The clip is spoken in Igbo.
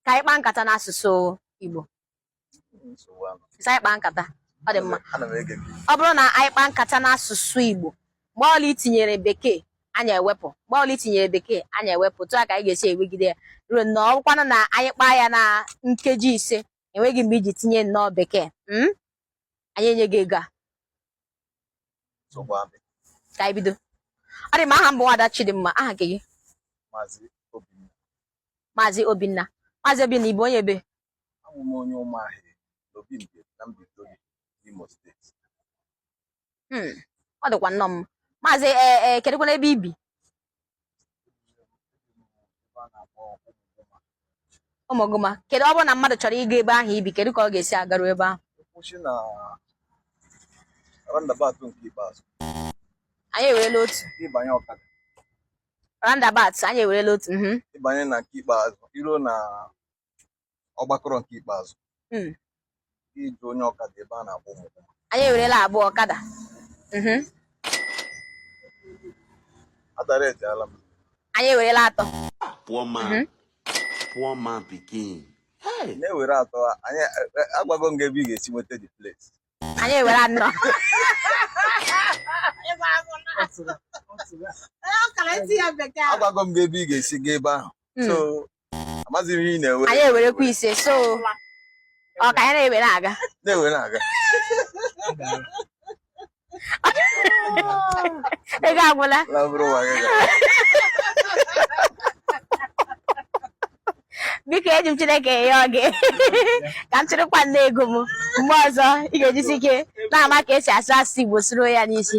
ka anyị kpaa nkata n'asụsụ Igbo sị anyị kpaa nkata ọ dị mma ọ bụrụ na anyị kpaa nkata n'asụsụ Igbo mgbe ọla i tinyere bekee anyị ewepụ mgbe ọla i tinyere bekee anyị ewepụ otu a ka anyị ga-esi ewegide ya ruo na ọ bụkwanụ na anyị kpaa ya na nkeji ise enweghị mgbe i ji tinye nnọọ bekee hmm? anyị enye gị ego a ka anyị bido ọ dị mma aha m bụ nwada Chidimma aha gị Maazị Obinna Maazị Obinna ị bụ onye ebee abụ m onye Ụmụahịị n'Obi Mbieri na Mbaitoli Imo steeti hmm, ọ dịkwa nnọọ mma maazị e, e, kedụkwanụ ebe i bi Ụmụgụma kedu ọ bụrụ na mmadụ chọrọ ịga ebe ahụ i bi kedu ka ọ ga-esi agaru ebe ahụ anyị eweela otu roundabout anyị ewerela otu mhm. ị banye na nke ikpeazụ i ruo na ọgbakọrọ nke ikpeazụ hmm. ị jụọ onye ọkada ebe a na-akpọ ụmụ anyị ewerela abụọ ọkada mhm. adaretịala m anyị ewerela atọ poor man mhm. poor man pikin na-ewere atọ anyị e, e, agwago m gị ebe ị ga-esi nweta the place anyị ewere anọ agwago m gị ebe ị ga-esi gaa ebe ahụ hmm. so amaghị m ihe ị na-ewere anyị ewerekwa ise so ọ ka anyị na-ewere aga na-ewere aga ego agwụla biko eji m Chineke yọọ gị ka m chịrịkwa nne ego m mgbe ọzọ ị ga-ejisi ike na-ama ka e si asụ asụsụ Igbo soro ya n'isi